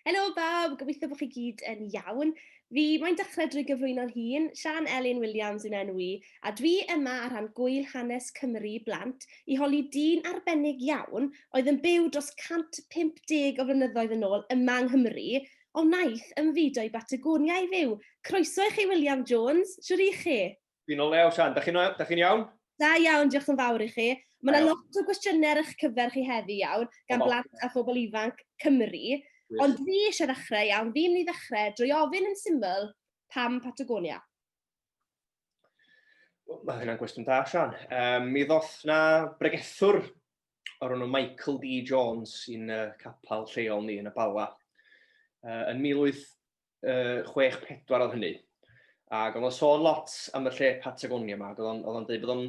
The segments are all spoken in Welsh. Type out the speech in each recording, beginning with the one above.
Helo bawb, gobeithio bod chi gyd yn iawn. Fi mae'n dechrau drwy gyflwyno'n hun, Sian Elin Williams yn enw i, a dwi yma ar rhan gwyl hanes Cymru i blant i holi dyn arbennig iawn oedd yn byw dros 150 o flynyddoedd yn ôl yma yng Nghymru, ond wnaeth ymfudo i Batagonia i fyw. Croeso i chi William Jones, shwt ych chi? Fi'n o lew, Sian. Da chi'n iawn? Da iawn, diolch yn fawr i chi. Mae yna lot o gwestiynau ar eich cyfer chi heddi iawn, gan blant a phobl ifanc Cymru. Ond fi eisiau ddechrau iawn, fi'n mynd i ddechrau drwy ofyn yn syml, pam Patagonia? Mae hynna'n gwestiwn da, Sian. Um, mi ddoth na bregethwr o'r enw Michael D. Jones i'n uh, capel lleol ni yn y Bala uh, yn 1800 uh, 6-4 oedd hynny. Ac oedd o'n sôn lot am y lle Patagonia yma, oedd o'n dweud bod o'n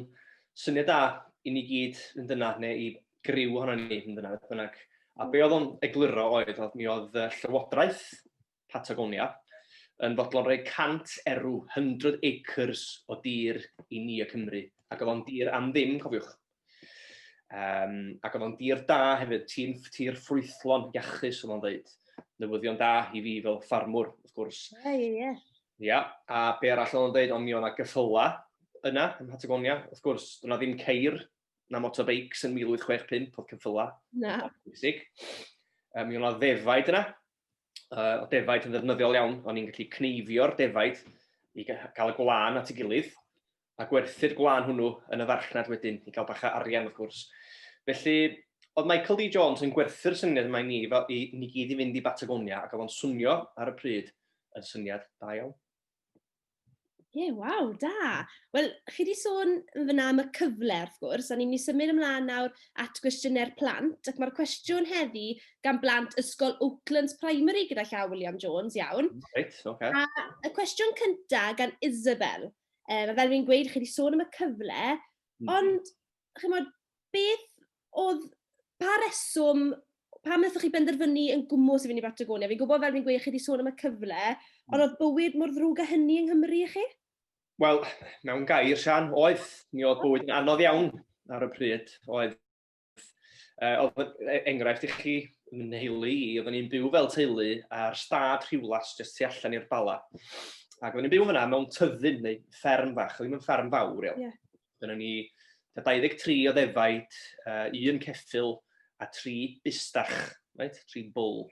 syniad da i ni gyd yn dyna, neu i griw ohono ni yn dyna, beth bynnag. A be oedd o'n egluro oedd, oedd mi oedd llywodraeth Patagonia yn fodlon rhoi 100 erw, 100 acres o dir i ni y Cymru. Ac oedd o'n dir am ddim, cofiwch. Um, ac oedd o'n dir da hefyd, ti'n tir ffrwythlon iachus, oedd o'n dweud. Newyddion da i fi fel ffarmwr, wrth gwrs. Ie, ie, ie. Ia, a be arall oedd o'n dweud, ond mi o'na gyffyla yna, ym Patagonia, wrth gwrs, dyna ddim ceir na motorbikes yn 1865, oedd cyffyla. Na. Bwysig. Um, mi o'na ddefaid yna, uh, o defaid yn ddefnyddiol iawn, o'n i'n gallu cneifio'r defaid i gael y gwlân at ei gilydd. a gwerthu'r gwlân hwnnw yn y farchnad wedyn i gael bach o arian wrth gwrs. Felly, oedd Michael D Jones yn gwerthu'r syniad yma i ni fel i ni gyd i fynd i Batagonia ac oedd o'n swnio ar y pryd yn syniad da iawn. Ie, yeah, waw, da. Wel, chi wedi sôn yn fyna am y cyfle, wrth gwrs, a ni'n mynd i symud ymlaen nawr at gwestiynau'r plant, ac mae'r cwestiwn heddi gan blant Ysgol Oaklands Primary gyda llaw William Jones, iawn. Right, okay. A y cwestiwn cyntaf gan Isabel. Um, a fel rwy'n gweud, chi wedi sôn am y cyfle, mm. ond, chi'n modd, beth oedd, pa reswm, pa wnaethoch chi benderfynu yn gwmwys i fynd i Batagonia? Fi'n gwybod fel rwy'n gweud, chi wedi sôn am y cyfle, ond mm. oedd bywyd mor ddrwg a hynny yng Nghymru i chi? Wel, mewn gair, Sian, oedd. Mi oedd bywyd yn anodd iawn ar y pryd. Oedd Uh, oedd e, enghraifft i chi, yn heili i, oedden ni'n byw fel teulu ar stad rhywlas jyst tu allan i'r bala. Ac oedden ni'n byw fyna mewn tyddyn neu fferm fach, oedd ddim yn fferm fawr iawn. Yeah. Dyna ni 23 o ddefaid, uh, un ceffil a tri bustach, right? tri bwl.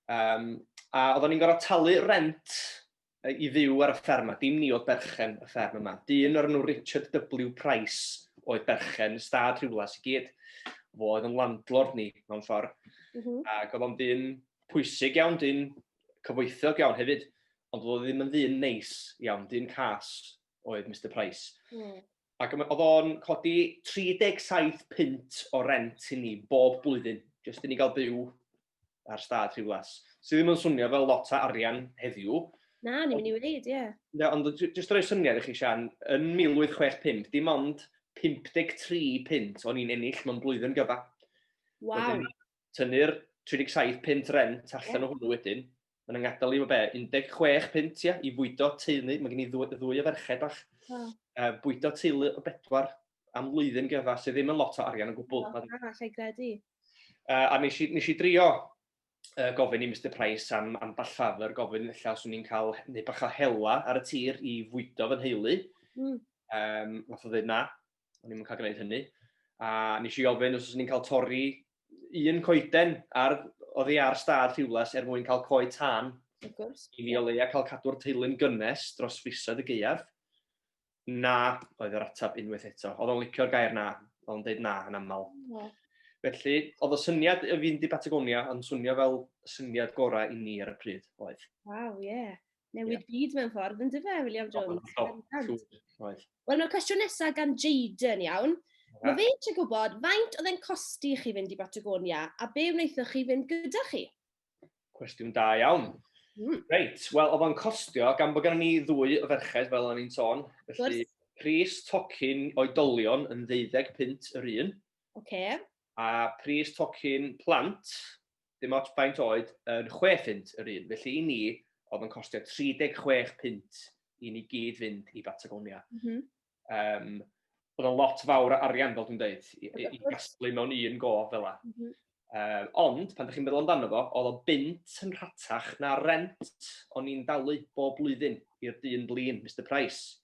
Um, a oedden ni'n gorfod talu rent i fyw ar y fferm yma. Dim ni oedd berchen y fferm yma. Dyn o'r enw Richard W Price oedd berchen y stad rhywles i gyd. Fo oedd yn landlord ni mewn ffordd. Mm -hmm. Ac oedd o'n dyn pwysig iawn, dyn cyfoethog iawn hefyd. Ond oedd o ddim yn ddyn neis iawn, dyn cas oedd Mr Price. Mm. Ac oedd o'n codi 37 pint o rent i ni bob blwyddyn, jyst i ni gael byw ar stad Rhiwlas, sydd ddim yn swnio fel lot o arian heddiw. Na, ni'n mynd i wneud, ie. Na, ond jyst rhoi syniad i chi, Sian, yn 1865, dim ond 53 pint o'n i'n ennill mewn blwyddyn gyfa. Waw. Tynnu'r 37 pint rent allan yeah. o hwnnw wedyn, Mae yna ngadael i fo be, 16 pint ia, i fwydo teulu, mae gen i ddwy, ddwy o ferched bach. Oh. Uh, bwydo teulu o bedwar am flwyddyn gyda, sydd ddim yn lot o arian o gwbl. Oh, na, lle gredu. Uh, a nes i, nes i drio uh, gofyn i Mr Price am, am ball ffafr, gofyn illa os o'n i'n cael neu bach o hela ar y tir i fwydo fy nheulu. Mm. Um, nath o ddweud na, o'n i'n cael gwneud hynny. A nes i ofyn os o'n i'n cael torri un coeden ar, oedd hi ar stad rhywles er mwyn cael coed tân. I ni o leia cael cadw'r teulu'n gynnes dros fisoedd y geiaf. Na, oedd yr atab unwaith eto. Oedd o'n licio'r gair na, oedd o'n dweud na yn aml. Yeah. Felly, oedd y syniad y fynd i Patagonia yn swnio fel syniad gorau i ni ar y pryd, oedd. Waw, ie. Yeah. newid yeah. byd mewn ffordd, yn dyfa, William Jones. Oh, oh, oh, Wel, mae'r cwestiwn nesaf gan Jaden, iawn. Yeah. Mae fe eisiau gwybod faint oedd e'n costi chi fynd i Batagonia a be wnaethoch chi fynd gyda chi? Cwestiwn da iawn. Mm. Reit, wel, oedd o'n costio, gan bod gen ni ddwy o ferched, fel o'n i'n tôn. Felly, pris tocyn oedolion yn 25 pint yr un. Oce. Okay. a pris tocyn plant, dim ots faint oed, yn chwe phunt yr un. Felly i ni, oedd yn costio 36 punt i ni gyd fynd i Batagonia. Mm -hmm. um, oedd yn lot fawr o arian, fel dwi'n dweud, i, i, i gasglu mewn un go fel la. Mm -hmm. um, ond, pan ydych chi'n meddwl amdano fo, oedd o bint yn rhatach na rent o'n i'n dalu bob blwyddyn i'r dyn blin, Mr Price.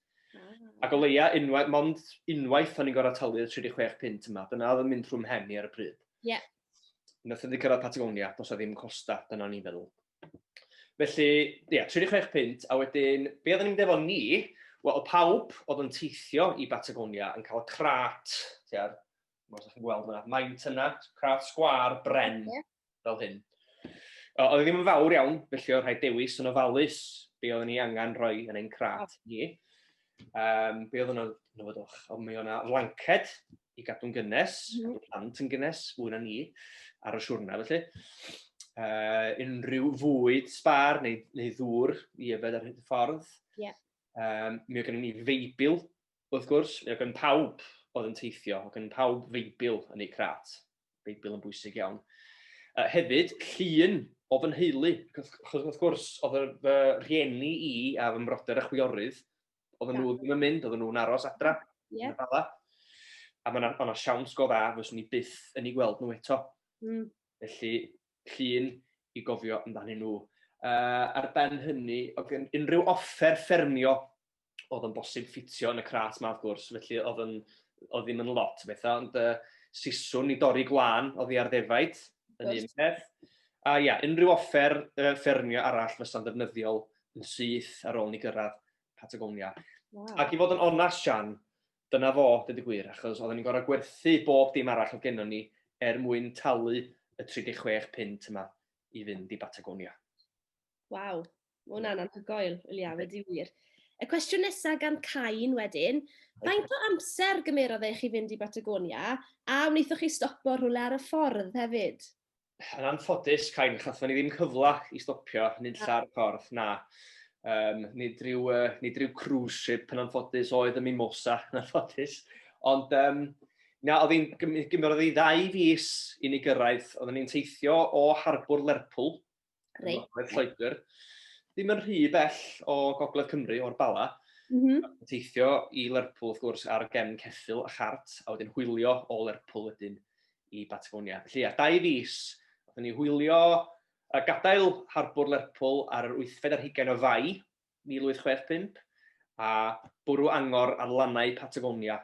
Ac o leia, unwaith, mond unwaith o'n i'n gorau talu'r 36 pint yma. Dyna oedd yn mynd rhwng mhen i ar y pryd. Ie. Yeah. Nath wedi cyrraedd Patagonia, dos a ddim costa, dyna ni'n feddwl. Felly, ie, yeah, 36 pint, a wedyn, be oedden ni'n defo ni, wel, o pawb oedd yn teithio i Patagonia yn cael y crat, tiar, mor ydych chi'n gweld yna, maint yna, crat sgwar, bren, yeah. fel hyn. Oedd e ddim yn fawr iawn, felly oedd rhaid dewis yn ofalus be oedden ni angen rhoi yn ein crat ni. Um, be oedd yna'n nofodwch? Ond mi o'na flanced i gadw'n gynnes, mm. gadw plant yn gynnes, fwy na ni, ar y siwrna felly. Uh, unrhyw fwyd sbar neu, neu ddŵr i yfed ar hyd y ffordd. Yeah. Um, mi oedd gen i ni feibl, wrth gwrs, mi oedd gen pawb oedd yn teithio, oedd gen pawb feibl yn eu crat. Beibl yn bwysig iawn. Uh, hefyd, llun o fy nheulu. Wrth gwrs, oedd fy rhieni i a fy mrodyr a chwiorydd, oedden nhw ddim yn mynd, oedden nhw'n aros adra. Yeah. A mae yna siawns go dda, fyswn ni byth yn ei gweld nhw eto. Mm. Felly, llun i gofio amdanyn nhw. Uh, ar ben hynny, oedd unrhyw offer ffermio oedd yn bosib ffitio yn y crat ma wrth gwrs, felly oedd yn, oedd ddim yn lot o bethau, ond uh, siswn i dorri gwan oedd i ar ddefaid yn un peth. A ia, unrhyw offer uh, ffermio arall fysa'n ddefnyddiol yn syth ar ôl ni gyrraedd Patagonia. Wow. Ac i fod yn onast, Sian, dyna fo, dydy gwir, achos oedden ni'n gorau gwerthu bob dim arall o gennon ni er mwyn talu y 36 pint yma i fynd i Batagonia. Waw, Mae hwnna'n anhygoel, Wiliam, ydy wir. Y cwestiwn nesaf gan Cain wedyn, faint o amser gymerodd eich i fynd i Batagonia a wnaethoch chi stopo rhywle ar y ffordd hefyd? Yn anffodus, Cain, chathon ni ddim cyfle i stopio nid lle ar y ffordd, na. Um, nid, rhyw, uh, nid rhyw cruise ship yn anffodus oedd y Mimosa yn anffodus. Ond um, na, oedd hi'n gymerodd i ddau fus i ni gyrraedd. Oedden ni'n teithio o Harbwr Lerpwl Reit. Mae Lloegr ddim yn rhy bell o Gogledd Cymru, o'r Bala. Mm -hmm. Teithio i Lerpwl, wrth gwrs, ar gefn ceffil a chart, a wedyn hwylio o Lerpwl wedyn i Batagonia. Felly, a dau fus, oedden ni hwylio a gadael harbwr Lerpwl ar yr wythfed ar hugain o fai, 1865, a bwrw angor ar lannau Patagonia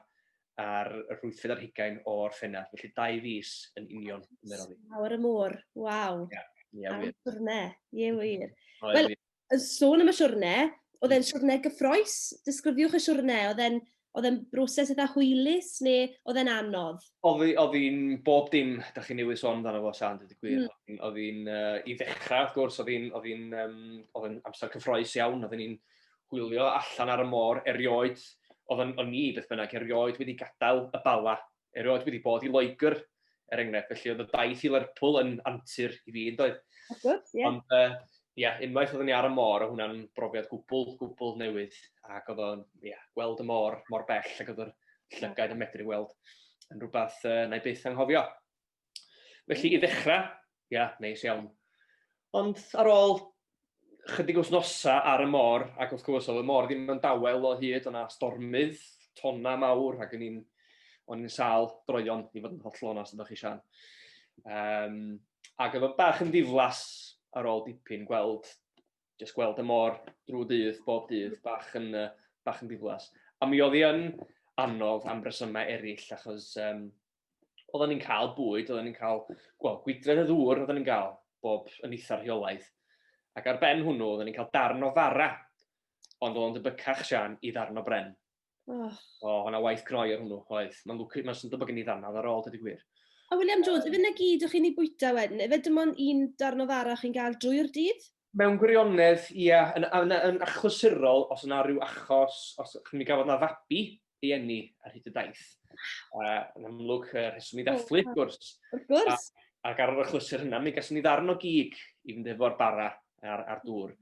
ar yr wythfed ar hugain o Orffennaf, felly dau fis yn union cymerodd hi. Awr y môr, waw! Ie, ie wir. Am siwrne, ie wir. Wel, yn sôn am y siwrne, oedd e'n siwrne gyffroes? Disgrifiwch y siwrne, oedd e'n Oedd e'n broses eitha hwylus neu oedd e'n anodd? Oedd hi'n bob dim dach chi newydd sôn amdano fo Siân, dweud y gwir. Oedd hi'n, i ddechrau wrth gwrs, oedd hi'n, oedd hi'n, oedd e'n amser cyffroes iawn, oedden ni'n hwylio allan ar y môr erioed, oedden ni beth bynnag erioed wedi gadael y Bala erioed wedi bod i Loegr, er enghraifft, felly oedd y daith i Lerpwl yn antur i fi, yn doedd? Good, yeah. Ond, ie, uh, yeah, unwaith oeddwn ni ar y môr, o hwnna'n brofiad gwbl, gwbl newydd, ac oedd o'n, ie, yeah, gweld y môr mor bell, ac oedd yr llygaid yn medru weld yn rhywbeth uh, na i byth anghofio. Felly i ddechrau, ia, neis iawn. Ond ar ôl chydig wythnosa ar y môr, ac wrth gwrs oedd y môr ddim yn dawel o hyd, o'na stormydd, tonna mawr, ac yn i'n, o'n i'n sal droion i fod yn holl onast ydych chi Sian. Um, ac oedd o bach yn ddiflas ar ôl dipyn gweld, jyst gweld y môr drwy dydd, bob dydd, bach yn, uh, bach yn ddiflas. A mi oedd hi yn anodd am resymau eraill, achos um, oedden ni'n cael bwyd, oedden ni'n cael, wel, gwydred y ddŵr oedden ni'n cael bob yn eitha rheolaidd. Ac ar ben hwnnw, oedden ni'n cael darn o fara, ond oedd o'n dybycach Sian i ddarn o bren. Oh. O, hwnna waith cnoi ar hwnnw, oedd. Mae'n lwcus, mae'n sy'n dybygyn i ddannad ar ôl, dydy gwir. A William George, um, efe na gyd o'ch chi'n ei bwyta wedyn? Efe dim ond un darn o fara chi'n gael drwy'r dydd? Mewn gwirionedd, ia, yn yn yn achlysurol, os yna rhyw achos, os chi'n mynd i gafodd na fabi ei eni ar hyd y daith. Uh, yn amlwg, uh, rheswm i ddathlu, wrth gwrs. Wrth gwrs. Ac ar yr achlysur hynna, mi gas ni ddarn o gig i fynd efo'r bara a'r, ar dŵr.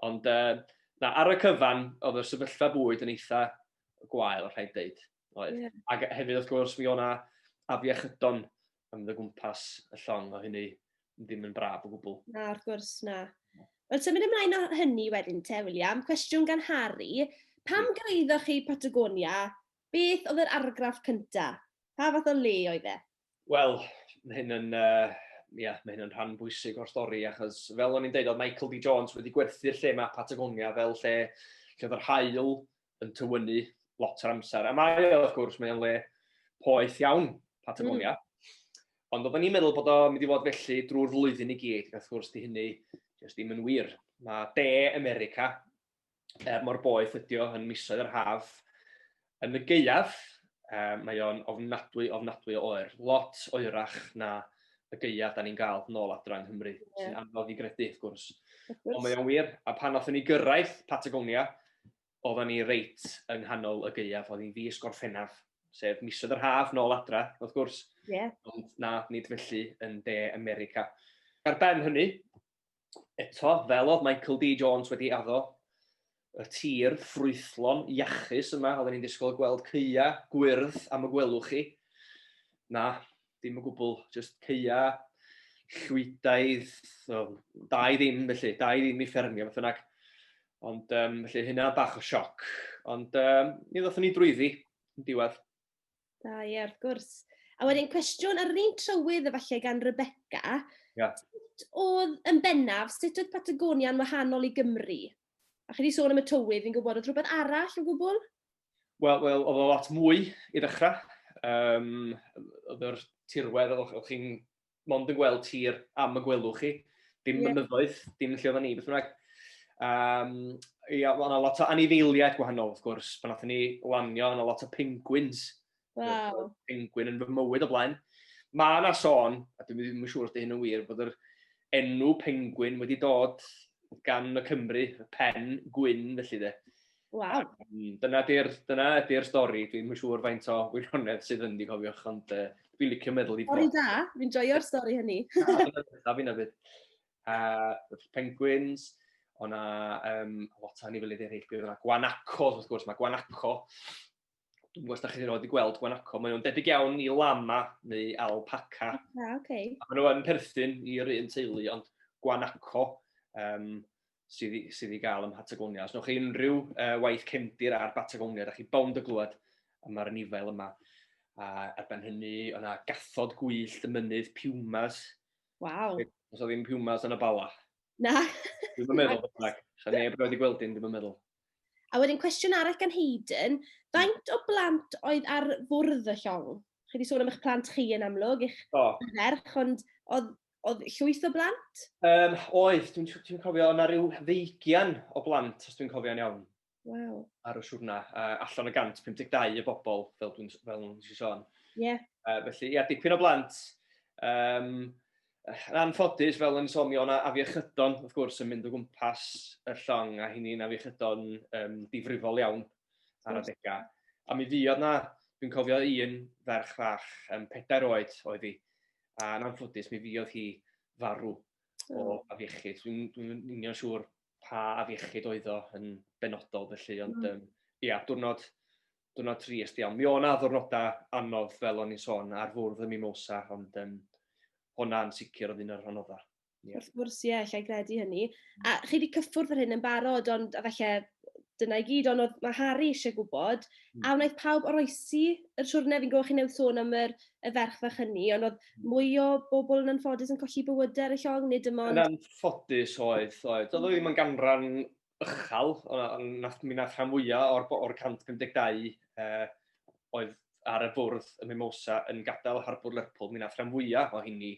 Ond uh, na, ar y cyfan, oedd y sefyllfa bwyd yn eitha gwael, rhaid dweud. Oedd. Yeah. Ac hefyd, wrth gwrs, mi o'na afiechydon yn mynd o gwmpas y llong o hynny ddim yn braf o gwbl. Na, wrth gwrs, na. Wel, symud ymlaen o hynny wedyn te, William. Cwestiwn gan Harry. Pam hmm. gyraeddoch chi Patagonia? Beth oedd yr argraff cynta? Pa fath o le oedd e? Wel, mae hyn yn, uh, yeah, mae hyn yn rhan bwysig o'r stori, achos fel o'n i'n dweud, oedd Michael D. Jones wedi gwerthu'r lle mae Patagonia fel lle, lle oedd yr hael yn tywynnu lot o'r amser. A mae o, wrth gwrs, mae'n le poeth iawn, Patagonia. Mm. Ond oedden ni'n meddwl bod o'n mynd i fod felly drwy'r flwyddyn i gyd, wrth gwrs di hynny jyst ddim yn wir. Mae de America, er mor boeth ydi o yn misoedd yr haf, yn y geiaf, um, mae o'n ofnadwy, ofnadwy o oer. Lot oerach na y geiaf da ni'n gael nôl adra yng Nghymru, yeah. sy'n anodd i gredu, wrth gwrs. Ond mae o'n wir, a pan oeddwn ni gyrraedd Patagonia, oeddan ni reit yng nghanol y gaeaf, oedd hi'n fis Gorffennaf, sef misoedd yr haf nôl adra, wrth gwrs. Yeah. Ond na, nid felly yn de America. Ar ben hynny, eto, fel oedd Michael D. Jones wedi addo, y tir ffrwythlon iachus yma, oedden ni'n disgwyl gweld ceia gwyrdd am y gwelwch chi. Na, dim o gwbl, just ceia, llwydaidd, so, da i ddim felly, da i ddim i ffermio, beth yna. Ond um, felly hynna bach o sioc, ond um, ni ddothon ni drwyddi yn diwedd. Da, ie, yeah, wrth gwrs. A wedyn cwestiwn ar yr un trywydd efallai gan Rebecca. Yeah. Sut oedd yn bennaf, sut oedd Patagonia yn wahanol i Gymru? A chi wedi sôn am y tywydd, fi'n gwybod, oedd rhywbeth arall o gwbl? Wel, wel, oedd o lot mwy i ddechrau. Um, oedd yr tirwedd, oedd chi'n mond yn gweld tir am y gwelwch chi. Dim yeah. mynyddoedd, dim lle oedden ni, beth bynnag. Um, ia, oedd yna lot o anifeiliaid gwahanol, wrth gwrs. Pan nath ni lanio, oedd yna lot o penguins Waw. Penguin yn fy mywyd o blaen. Mae yna sôn, a dwi'n ddim yn siŵr os dy hyn yn wir, bod yr enw penguin wedi dod gan y Cymru, y pen gwyn, felly de. Waw. Dyna ydy'r dyna ydy'r stori, dwi'n yn siŵr faint o wirionedd sydd yn di cofiwch, ond uh, dwi'n licio meddwl i bod. Stori da, fi'n joio'r stori hynny. Da fi'n abyd. Uh, penguins, o'na um, lot o anifelydd eraill, bydd o'na gwanaco, wrth gwrs, mae gwanaco dwi'n gwybod os da chi wedi gweld Guanaco, maen nhw'n debyg iawn i lama neu alpaca. Ah, okay. A maen nhw'n perthyn i'r un teulu, ond Guanaco um, sydd, sydd i gael ym Patagonia. Os newch chi unrhyw uh, waith cefndir ar Patagonia, da chi bond y glwad am yr anifail yma. A ar ben hynny, yna gathod gwyllt y mynydd pumas. Waw. Os o ddim pumas yn y bala. Na. Dwi'n meddwl, beth bynnag. Sa neb wedi gweld un, dwi'n meddwl. A wedyn cwestiwn arall gan Hayden, faint o blant oedd ar fwrdd y llong? Chi wedi sôn am eich plant chi yn amlwg, eich oh. ferch, ond oedd, oedd llwyth o blant? Um, oedd, dwi'n dwi, dwi cofio, yna rhyw ddeugian o blant, os dwi'n cofio'n iawn. Wow. Ar y siwrna, uh, allan o 152 y bobl, fel dwi'n fel dwi'n sôn. Ie. Yeah. Uh, felly, ia, dipyn o blant. Um, Yn anffodus, fel yn sôn, mi o'na afiechydon, wrth gwrs, yn mynd o gwmpas y llong, a hynny'n afiechydon um, difrifol iawn ar adegau. A mi fuodd na, dwi'n cofio un ferch fach, um, pedair oed oedd hi, a yn anffodus, mi fuodd hi farw o afiechyd. Dwi'n dwi union siŵr pa afiechyd oedd o yn benodol, felly, ond, um, ia, diwrnod, diwrnod trist iawn. Mi o'na ddwrnodau anodd fel o'n i'n sôn ar fwrdd y Mimosa, ond um, hwnna'n sicr oedd un o'r anoddau. Yeah. Wrth gwrs, ie, yeah, lle i gredu hynny. A mm. chi wedi cyffwrdd ar hyn yn barod, ond a felly dyna i gyd, ond oedd mae Harry eisiau gwybod, mm. a wnaeth pawb oroesi yr siwrne, fi'n gwybod chi newydd sôn am yr, y ferch fach hynny, ond oedd hmm. mwy o bobl yn anffodus yn colli bywydau ar y llong, nid dim ond... Yn anffodus oedd, oedd. Oedd o ddim yn ganran uchel, mi nath rhan fwyaf o'r, or 152 uh, oedd ar y bwrdd y Mimosa yn gadael harbwr Lerpwl, mi nath rhan fwyaf o hynny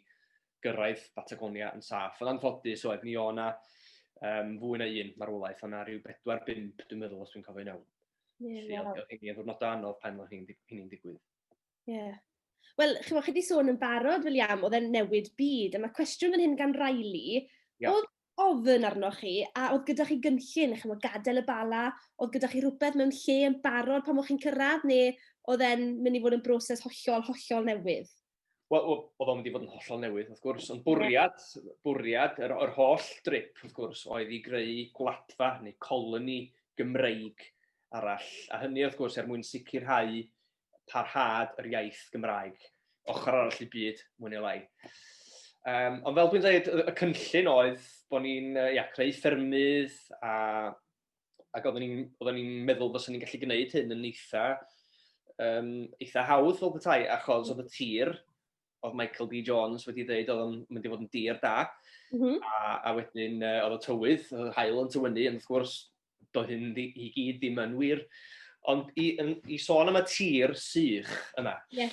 gyrraedd Patagonia yn saff. Ond anffodus oedd, mi o'na um, fwy na un marwolaeth, o'na rhyw 4-5 dwi'n meddwl os dwi'n cofio'n iawn. Yeah, Felly, wow. oedd hynny yn ddwrnod anodd pan oedd hynny'n digwydd. Ie. Yeah. Wel, chi wedi sôn yn barod, William, oedd e'n newid byd, a mae cwestiwn fan hyn gan Riley. Yeah. Oedd ofyn arnoch chi, a oedd gyda chi gynllun, chi'n gwybod, gadael y Bala, oedd gyda chi rhywbeth mewn lle yn barod pan o'ch chi'n cyrraedd, neu oedd e'n mynd i fod yn broses hollol, hollol newydd? Wel, oedd o'n mynd i fod yn hollol newydd, wrth gwrs, ond bwriad, bwriad yr, yr holl drip, wrth gwrs, oedd i greu gwladfa neu coloni Gymreig arall, a hynny, wrth gwrs, er mwyn sicrhau parhad yr iaith Gymraeg, ochr arall i byd, mwy neu lai. Um, ond fel dwi'n dweud, y cynllun oedd bod ni'n ia, creu ffermydd a, ac oeddwn ni'n ni meddwl bod ni'n gallu gwneud hyn yn eitha, um, eitha hawdd fel bethau, achos oedd y tir, oedd Michael D. Jones wedi dweud oedd o'n mynd i fod yn dir da, mm -hmm. a, a wedyn uh, oedd y tywydd, oedd hael yn tywynnu, ond wrth gwrs, do hyn i gyd ddim yn wir. Ond i, i sôn am y tir sych yma, yeah.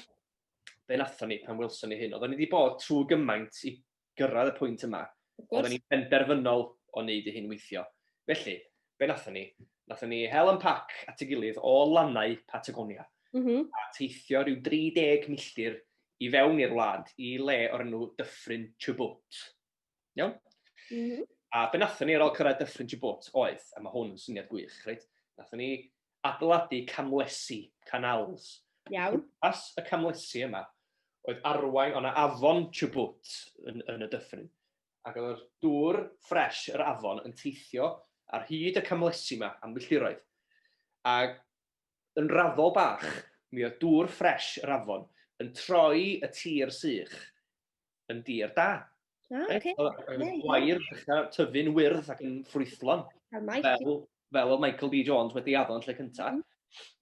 be nathon ni pan welson ni hyn? Oedden ni wedi bod trwy gymaint i gyrraedd y pwynt yma. Oedden ni'n penderfynol o wneud i hyn weithio. Felly, be nathon ni? Nathon ni hel yn pac at y gilydd o lannau Patagonia. Mm -hmm. A teithio rhyw 30 milltir i fewn i'r wlad i le o'r enw Dyffryn Chubut. Iawn? Mm -hmm. A be nathon ni ar ôl cyrraedd Dyffryn Chibot oedd, a mae hwn yn syniad gwych, reit? Nathon ni adeiladu camlesi, canals. Iawn. As y camlesi yma oedd arwain o'na afon Chubut yn, yn y Dyffryn. Ac oedd dŵr ffres yr afon yn teithio ar hyd y camlesi yma am filltiroedd. Ac yn raddol bach, mi oedd dŵr ffres yr afon yn troi y tir sych yn dir da. Ah, okay. Reit? Oedd oedd Yeah, gwair ddechra tyfu'n wyrdd ac yn ffrwythlon, Cael Mike. fel fel oedd Michael D Jones wedi addo yn lle cynta. Mhm.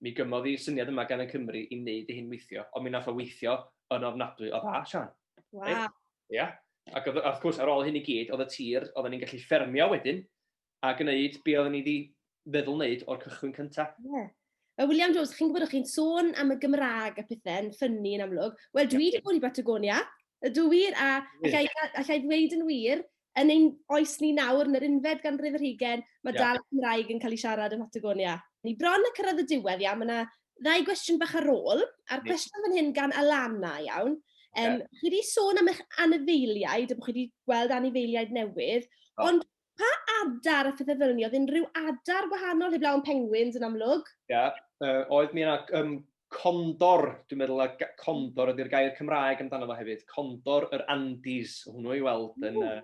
Mi gymodd y syniad yma gan y Cymry i wneud ei hun weithio, ond mi nath o weithio yn ofnadwy o dda, Siân. Waw. Ia. Ac oedd wrth gwrs ar ôl hyn i gyd, oedd y tir oedden ni'n gallu ffermio wedyn, a gwneud be oedden ni wedi feddwl wneud o'r cychwyn cyntaf. Ie. Yeah. Mae William Jones, chi'n gwybod o'ch chi'n sôn am y Gymraeg a pethau'n ffynnu yn amlwg. Wel, dwi wedi bod i Batagonia, ydw wir, a allai, allai ddweud yn wir, yn ein oes ni nawr, yn yr unfed ganrif yr hugen, mae yeah. dal y Cymraeg yn cael ei siarad yn Patagonia. Ni bron y cyrraedd y diwedd, iawn, mae yna ddau gwestiwn bach ar ôl, a'r cwestiwn fan hyn gan Alana, iawn. Um, yeah. Chi wedi sôn am eich anifeiliaid, a bod chi wedi gweld anifeiliaid newydd, oh. ond Pa adar a phethe-fel-'ny-oedd unrhyw adar gwahanol heblaw am pengwins yn amlwg? Ia yy oedd mi yna yym condor dwi'n meddwl a ga- condor ydy'r gair Cymraeg amdano fo hefyd, condor yr Andes o' hwnnw i weld yn yy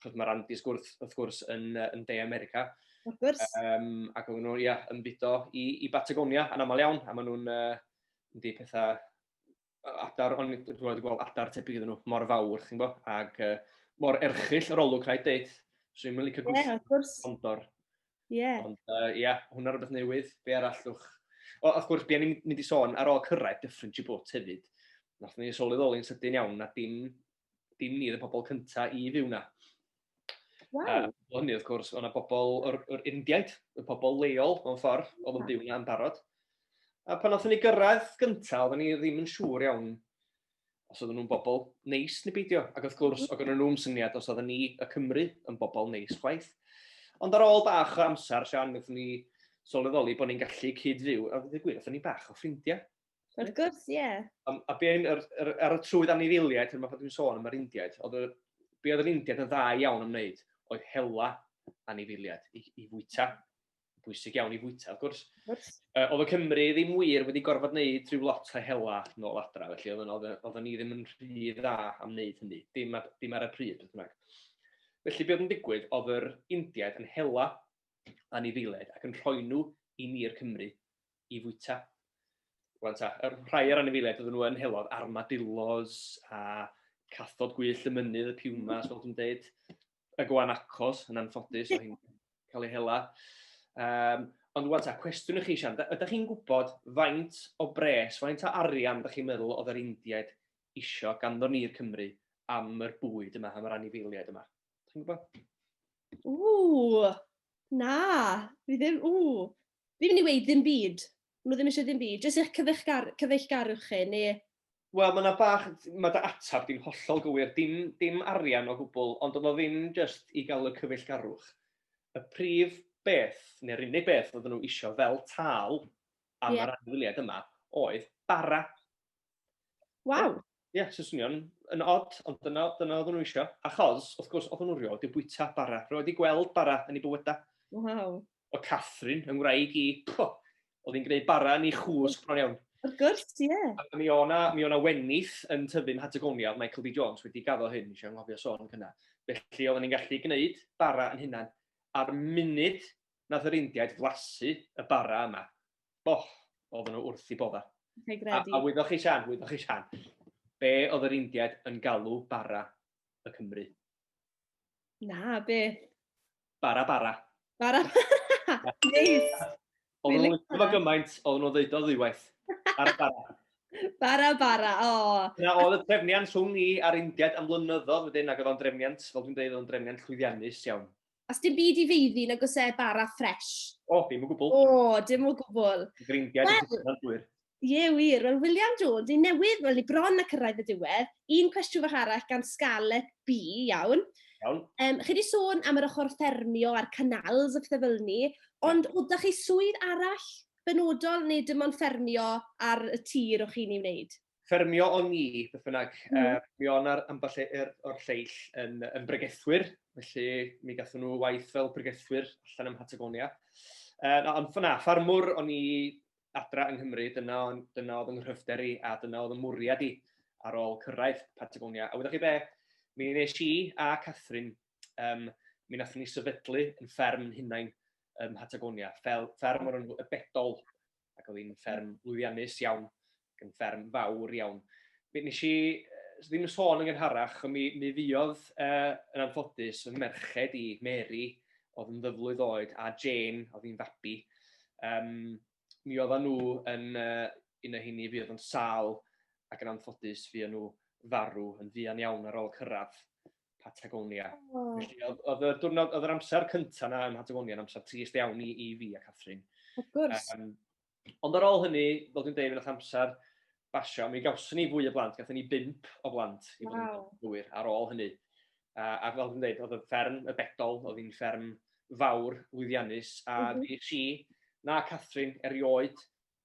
ch'od ma'r Andes gwrth wrth gwrs yn yy yn De America. Wrth gwrs. Yym ac o'n nw ia yn mudo i i Batagonia yn amal iawn a ma' nw'n yy yn deud petha adar, ond dwi'n wedi gweld adar tebyg iddyn nhw, mor fawr, chi'n bo, ac uh, mor erchill yr olwg rhaid deud. So i'n mynd i cygwys yeah, condor. Ie. Yeah. Ond ie, uh, yeah, hwnna rhywbeth newydd, be arall llwch. O, wrth gwrs, beth ni'n mynd i sôn ar ôl cyrraedd Dyffryn Chibwt hefyd, nath ni sylweddoli'n sydyn iawn na dim dim ni oedd y pobl cynta i fyw na. Wow. A, hynny, wrth gwrs, o'na bobl o'r, or Indiaid, y pobl leol, mewn ffordd, oedd yn byw na yn barod. A pan oeddwn ni gyrraedd gyntaf, oeddwn ni ddim yn siŵr iawn os oedden nhw'n bobl neis neu beidio. Ac wrth gwrs, oedd gen nhw'n syniad os oedden ni y Cymru yn bobl neis chwaith. Ond ar ôl bach o amser, Sian, wnaethon ni sylweddoli bod ni'n gallu cyd-fyw, a dweud y gwir, oeddwn ni bach o ffrindiau. Wrth gwrs, ie. Yeah. A, a be yn, ar, ar, ar y trwydd anifiliaid, pan dwi'n sôn am yr Indiaid, oedd y, be oedd yr Indiaid yn dda iawn am wneud, oedd hela anifiliaid i, i fwyta. Bwysig iawn i fwyta, wrth gwrs. Wrth. Uh, oedd y Cymru ddim wir wedi gorfod wneud rhyw lot o hela nôl adra, felly oedd, oedd, oedd ni ddim yn rhy dda am wneud hynny, dim, ar, dim ar y pryd, beth bynnag. Felly, be oedd yn digwydd, oedd yr Indiaid yn hela anifiliaid ac yn rhoi nhw i ni'r Cymru i fwyta. Rwan ta, y rhai ar anifeiliaid oedden nhw yn helodd, armadillos a cathod gwyllt y mynydd, y piwmas, fel dwi'n dweud, y gwanacos yn anffodus, oedd hi'n cael ei hela. Um, ond rwan ta, cwestiwn i chi, Sian, ydych chi'n gwybod faint o bres, faint o arian ydych chi'n meddwl oedd yr Indiaid isio ganddo ni'r Cymru am yr bwyd yma, am yr anifeiliaid yma? Ydych chi'n gwybod? Ww, na, fi ddim, ww, Fi'n mynd i weud ddim byd. Maen nhw ddim eisiau ddim byd. Jyst eich cyfeillgar cyfeillgarwch chi, neu... Wel, mae yna bach... Mae dy ateb di'n hollol gywir. Dim, dim arian o gwbl, ond oedd o ddim jyst i gael y cyfeillgarwch. Y prif beth, neu'r unig beth oedden nhw eisiau fel tâl am yeah. yr anifeiliaid yma oedd bara. Waw! Ie, yeah, so swnio'n yn odd, ond dyna, dyna oedden nhw eisiau. Achos, wrth gwrs, oedden nhw rioed wedi bwyta bara. Rioed wedi gweld bara yn ei bywydau. Waw. O Catherine, yng ngwraig i, pwh, oedd hi'n gwneud bara yn ei chwsg bron iawn. Wrth gwrs, ie. Yeah. A mi o'na, mi o'na wenith yn tyfu'n Patagonia, oedd Michael B. Jones wedi gaddo hyn, eisiau ngofio sôn yn hynna. Felly oedden ni'n gallu gwneud bara yn hynna'n. A'r munud nath yr Indiaid flasu y bara yma, boff, oedden nhw wrth i bodda. A, a wyddoch chi Sian, wyddoch chi Sian, be oedd yr Indiaid yn galw bara y Cymru? Na, be? Bara, bara. Bara, bara. Neis. Oedden nhw'n licio fo gymaint, oedden nhw'n ddeud o ddiwaith. Bara, bara. Bara, bara, o. Na, oedd y trefniant rhwng ni a'r Indiaid am flynyddoedd wedyn, ac oedd o'n drefniant, fel dwi'n dweud, oedd o'n drefniant llwyddiannus iawn. A sdim byd i feiddi nag oes e bara ffresh? O, dim o gwbl. O, dim o gwbl. Greindiau well, yn hynod wir. Ie, wir. Wel, William Jones, ni newydd, wel, ni bron na cyrraedd y diwedd. Un cwestiwn fach arall gan Scarlett B, iawn. Iawn. Um, chi wedi sôn am yr ochr ffermio a'r canals a phethau fel ni, ond o, da chi swydd arall benodol neu dim ond ffermio ar y tir o'ch chi'n ei wneud? ffermio o'n ni, beth bynnag. Mm. Uh, mi o'n ar ambell e- er, o'r lleill yn, yn bregethwyr, felly mi gatho nhw waith fel bregethwyr allan ym Patagonia. Uh, ond fyna, ffarmwr o'n i adra yng Nghymru, dyna, dyna oedd yng nghyfder i a dyna oedd y mwriad i ar ôl cyrraedd Patagonia. A wyddoch chi be, mi nes i a Catherine, um, mi nath ni sefydlu yn fferm hunain ym Patagonia, fel fferm o'r enw y Bedol. ac oedd hi'n fferm lwyddiannus iawn, ac yn fferm fawr iawn. Mi nes i ddim yn sôn yn gynharach, ond mi, mi fuodd uh, yn anffodus fy merched i, Mary, oedd yn ddyflwydd oed, a Jane, oedd hi'n fabi. Um, mi oedd nhw yn uh, un o hynny fuodd yn sal ac yn anffodus fuodd nhw farw yn fuan iawn ar ôl cyrraedd. Patagonia. Oh. Felly, oedd yr diwrnod, oedd yr amser cyntaf yna ym Patagonia, yn amser trist iawn i, i fi a Catherine. Of course. Um, ond ar ôl hynny, fel dwi'n dweud, yn amser basio, mi gawson ni fwy o blant, gathen ni bimp o blant i fod yn gywir ar ôl hynny. A, a fel dwi'n dweud, oedd y fferm y bedol, oedd hi'n fferm fawr, lwyddiannus, a mm -hmm. ddi si, na Catherine, erioed,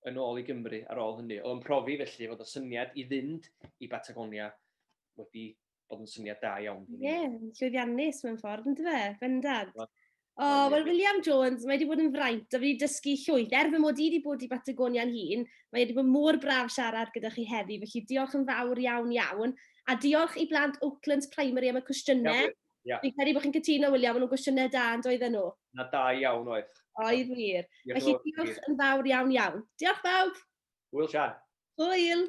yn ôl i Gymru ar ôl hynny. Oedd yn profi felly fod y syniad i fynd i Batagonia wedi bod yn syniad da iawn. Ie, yeah, llwyddiannus mewn ffordd, yn dweud, fe, bendant. O, oh, wel, William Jones, mae wedi bod yn fraint, a wedi dysgu llwyth. Er fy mod i wedi bod i Batagonia'n hun, mae wedi bod mor braf siarad gyda chi heddi, felly diolch yn fawr iawn iawn. A diolch i blant Oaklands Primary am y cwestiynau. Yeah, yeah. Fi'n credu bod chi'n cytuno, William, maen nhw'n gwestiynau da yn doedden nhw. Na da iawn oedd. Oedd wir. Felly diolch yn fawr iawn iawn. Diolch bawb! Hwyl Sian. Hwyl.